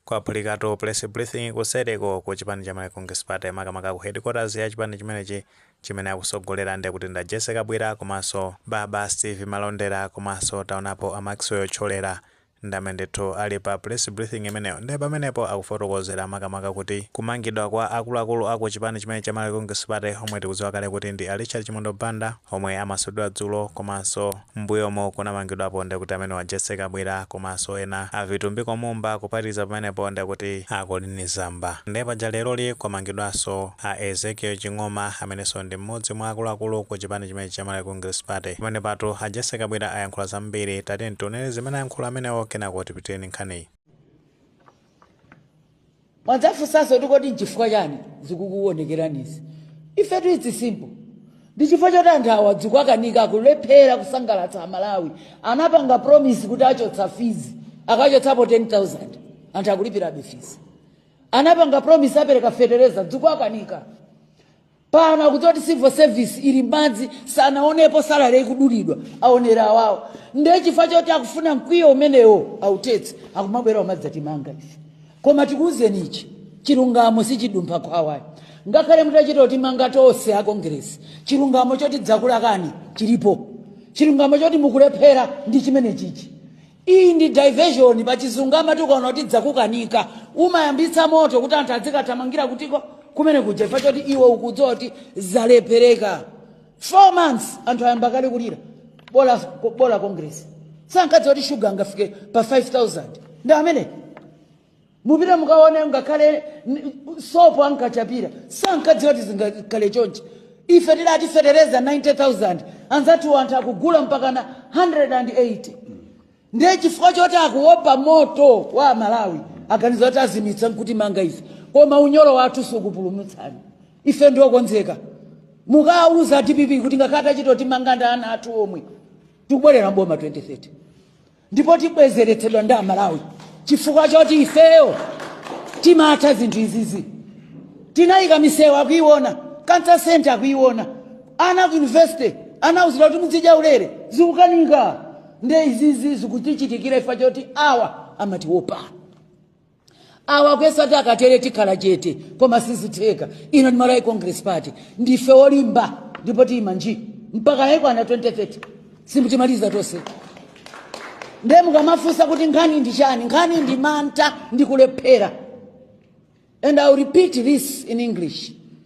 Kwaphulikatu Press Briefing kuseriko ku chipani cha Malawi Congress Party makamaka ku headquarters ya chipani chimenechi chimene akutsogolera nde kuti ndi a Jessie Kabwila komanso Baba Steve Malondera komanso taonapo a Maxwell Thyolera ndi amene ndithu ali pa Press Briefing imeneyo ndiye pamenepo akufotokozera makamaka kuti kumangidwa kwa akuluakulu aku chipani chimene cha Malawi Congress Party omwe tikudziwa kale kuti ndi a Richard Chimwendo Banda omwe amasulidwa dzulo komanso Mmbuyomu kunamangidwapo nde kuti amenewa a Jessie Kabwila komanso ena a Vitumbiko Mumba kuphatikiza pamenepo nde kuti a Colleen Zamba nde paja leroli kwamangidwanso a Ezekiel Ching'oma amenenso ndi mmodzi mwa akuluakulu ku chipani chimenechi cha Malawi Congress Party. Pamenepatu a Jessie Kabwila ayankhula zambiri tatiyeni tionereni zimene ayankhula amenewo kenako tipitilire ndi nkhaniyi. mwandifunsanso kuti kodi nchifukwa chani zikukuonekerani izi ifetu it is simple ndi chifukwa choti anthu awa zikuwakanika akulephera kusangalatsa amalawi anapanga promise kuti achotsa fizi akachotsapo 10000 anthu akulipirabe fizi anapanga promise apereka fetereza zikuwakanika pano akudziwa kuti civil service ili madzi sanaonepo salary ikudulidwa aonera awawo ndiye chifukwa choti akufuna mkwiyo umenewo authetse akumabwera kumadzatimanga ife koma tikuwuzeni ichi chilungamo sichidumpha khwawa ayi ngakhale mutachita kutimanga tonse a kongeresi chilungamo choti zakulakani chilipo chilungamo choti mukulephera ndi chimene chichi Iyi ndi diversion pachizungu amati ukaona kuti zakukanika umayambitsa moto kuti anthu azikathamangira kutiko kumene kuja chifukwa choti iwe ukudziwa kuti zalephereka 4 months anthu ayamba kale kulira bola, bola kongeresi sankadziwa kuti shuga angafike pa 5000 ndi amene Mupite mukaone ngakhale sopo ankachapira sankadziwa kuti zingakhale chonchi. Ife tidati fetereza 90,000 anzathu anthu akugula mpakana 180 ndiye chifukwa choti akuopa moto wa aMalawi aganiza kuti azimitsa nkutimanga ife koma unyolo wathu sukupulumutsani ife ndife okonzeka mukauze DPP kuti ngakhale atachitotimanga ndi ana athu omwe tikubwerera mboma 2030. ndipo tibwezeretsedwa ndi amalawi chifukwa choti ifeyo timatha zinthu izizi tinayika misewu akuiona cancer center akuiona ana ku university anauzidwa kuti mudzidya ulere zikukanika nde izizi zikutichitikira chifukwa choti awa amatiopa awa akuyesa kuti akatere tikhala chete koma sizitheka ino ndi malawi congress party ndife olimba ndipo tiyima nji mpaka chaikwana 2030 simutimaliza tonse nde mukamafunsa kuti nkhani ndi chani nkhani ndi mantha ndi kulephera and i'll repeat this in english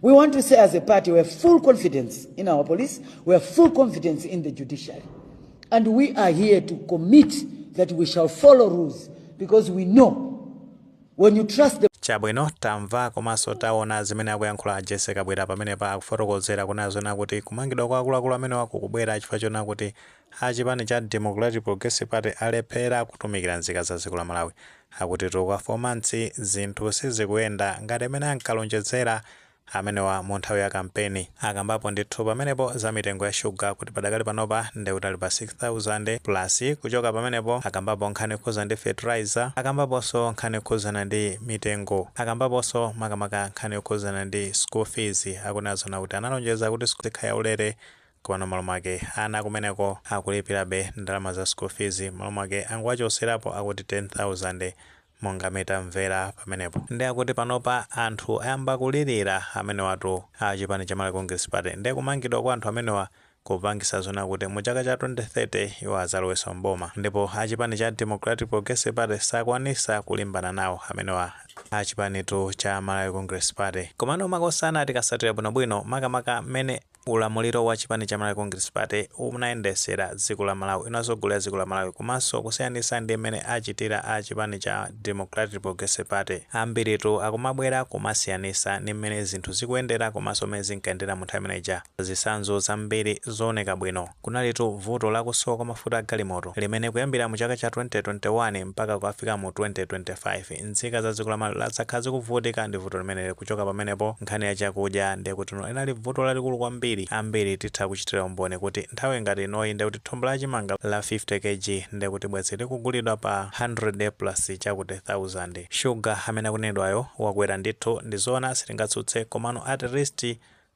We want to say as a party we have full confidence in our police, we have full confidence in the judiciary. And we are here to commit that we shall follow rules because we know when you trust the chabwino tamva komanso taona zimene akuyankhula a Jessie Kabwila pamenepa akufotokozera kunena zoona kuti kumangidwa kwa akuluakulu amenewa kukubwera chifukwa chona kuti A chipani cha Democratic Progressive Party alephera kutumikira nzika za dziko la Malawi. Akutitu mu ka 4 months zinthu sizikuyenda ngati mmene ankalonjedzera amenewa mu nthawi ya kampeni. Akambapo ndithu pamenepo za mitengo ya sugar kuti padakali panopa nde kuti ali pa 6000 plus kuchoka pamenepo akambapo nkhani yokhuza ndi fertilizer, akambaponso nkhani yokhuzana ndi mitengo, akambaponso makamaka nkhani yokhuzana ndi school fees kunena zoona kuti analonjeza kuti school izikhala ya ulere Komano malo mwake ana kumeneko akulipirabe ndalama za school fees malo mwake angowachoserapo akuti 10,000 monga mmene tamvera pamenepo nde akuti panopa anthu ayamba kulirira amenewatu a chipani cha Malawi Congress Party nde kumangidwa kwa anthu amenewa kupangisa zoona kuti mu chaka cha 2030 iwo azaloweso m'boma ndipo a chipani cha Democratic Progressive Party sakwanisa kulimbana nawo amenewa a chipanitu cha Malawi Congress Party komano makosana tikasatira bwino bwino makamaka mmene Ulamuliro wa chipani cha Malawi Congress Party unayendesera dziko la Malawi, unatsogolera dziko la Malawi komanso kusiyanitsa ndi mmene achitira a chipani cha Democratic Progressive Party. Ambiritu akumabwera kumasiyanitsa ndi mmene zinthu zikuyendera komanso mmene zinkayendera mu nthawi imene ija. Zitsanzo zambiri zooneka bwino. Kunalitu vuto la kusowa kwa mafuta a galimoto limene kuyambira mu chaka cha 2021 mpaka kukafika mu 2025, nzika za dziko la Malawi lakhala zikuvutika ndi vuto limeneli kuchoka pamenepo nkhani ya chakudya ndekuti linali vuto lalikulu kwambiri ambiri titha kuchitira umboni kuti nthawi ngati inoyi ndekuti thumba la chimanga la 50 kg ndekuti bwezi likugulidwa pa 100 plus chakuti thousand. Sugar amene akunenedwayo wakwera ndithu ndizoona sitingatsutse komano at least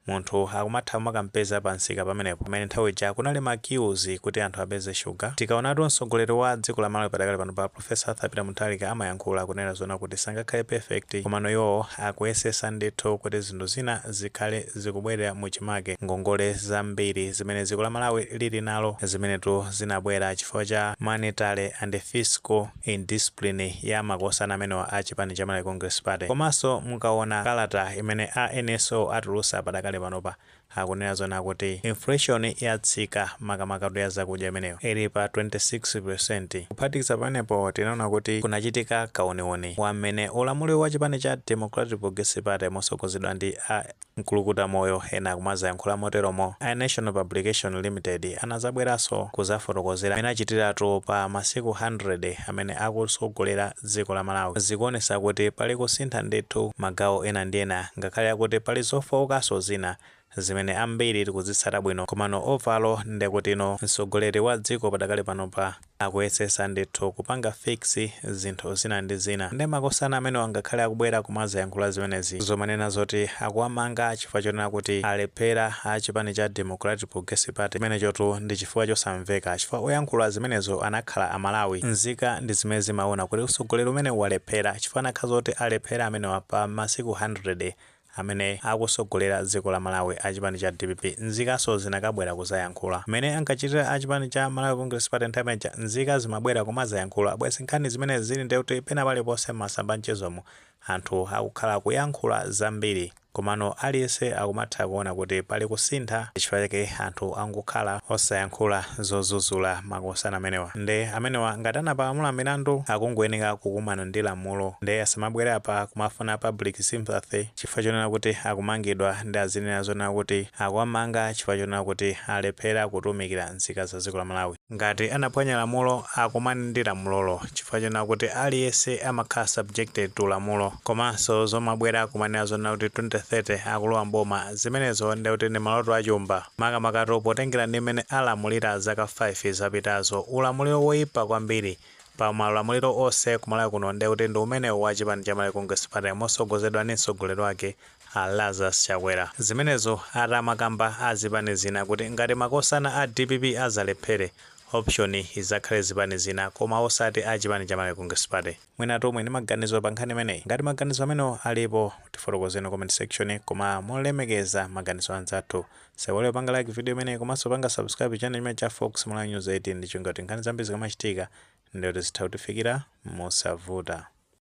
Munthu akumatha kumakampeza pa msika pamenepo pamene nthawi ija kunali ma queues kuti anthu apeze shuga. Tikaonatu mtsogoleri wa dziko la Malawi padakali panopa Prof. Arthur Peter Mutharika amayankhula kunena zoona kuti sangakhale perfect komano iwowo akuyesesa ndithu kuti zinthu zina zikhale zikubwerera mu chimake. Ngongole zambiri zimene dziko la Malawi lili nalo zimenetu zinabwera chifukwa cha monetary and fiscal. indiscipline ya makosana amenewa a chipani cha Malawi Congress Party. Komanso mukawona kalata imene a NSO atulusa padakali panopa akunena zoona kuti inflation yatsika makamakatu ya zakudya imeneyo ili pa 26%. Kuphatikiza pamenepo tinaona kuti kunachitika kawuniwuni wa mmene ulamuliro wa chipani cha Democratic Progressive Party mosogozedwa ndi a mkulukuta moyo ena akumazayankhula moteromo a Nation Publications Limited anazabweraso kuzafotokozera mene achitiratu pa masiku 100 amene akusogolera dziko la malawi zikuonesa kuti pali kusintha ndithu magawo ena ndi ena ngakhale akuti pali zofookaso zina zimene ambiri tikuzitsata bwino komano overall nde kuti msogoleri wa dziko padakali panopa Akuyesesa ndithu kupanga fix zinthu zina ndi zina nde makosana amenewa ngakhale akubwera kumazayankhula zimenezi zomanena zoti akuwamanga chifukwa chonena kuti alephera a chipani cha Democratic Progressive Party chimenechotu ndi chifukwa chosamveka chifukwa oyankhula zimenezo anakhala a Malawi nzika ndi zimene zimaona kuti utsogoleri umenewu walephera chifukwa zikanakhala zoti alephera amenewa pa masiku 100 amene akusogolera dziko la Malawi a chipani cha dpp nzikaso zinakabwera kuzayankhula mmene ankachitira a chipani cha Malawi Congress Party nthawi imene ija nzika zimabwera kumazayankhula bwezi nkhani zimenezi zili nde kuti pena paliponse mmasamba anchezomu anthu akukhala akuyankhula zambiri komano aliyese akumatha kuona kuti pali kusintha ndichifukwa chake anthu angokhala osayankhula zozuzula makosana amenewa nde amenewa ngati anapalamula milandu akungoyeneka kukumana ndi lamulo nde asamabwere apa kumafuna public sympathy chifukwa chonena kuti akumangidwa nde azinena zonena kuti akuwamanga chifukwa chonena kuti alephera kutumikira nzika za dziko la Malawi. Ngati anaphwanya lamulo akumane ndi lamulolo chifukwa chonena kuti aliyense amakhala subjected to lamulo. Komanso zomabwera kumanena zonena kuti 2030 akulowa m'boma zimenezo nde kuti ndi maloto a chumba makamakatu potengera ndi mmene alamulira zaka 5 zapitazo. Ulamuliro woipa kwambiri. pa maulamuliro onse ku Malawi kuno nde kuti ndi umenewu wa chipani cha Malawi Congress Party mosogozedwa ndi mtsogoleri wake a Lazarus Chakwera. Zimenezo atamakamba a zipani zina kuti ngati makosana a dpp azalephere, option izakhale zipani zina koma osati a chipani cha Malawi Congress Party. Mwinatu muli ndi maganizo pa nkhani imeneyi? Ngati maganizo amenewo alipo, tifotokozeni mu comment section koma molemekeza maganizo a anzathu. Musaiwale kupanga like video imeneyi komanso panga subscribe channel chimenechi cha Fox Malawi News 18 ndi cholinga choti nkhani zambiri zikamachitika ndiye kuti zitha kukufikirani mosavuta.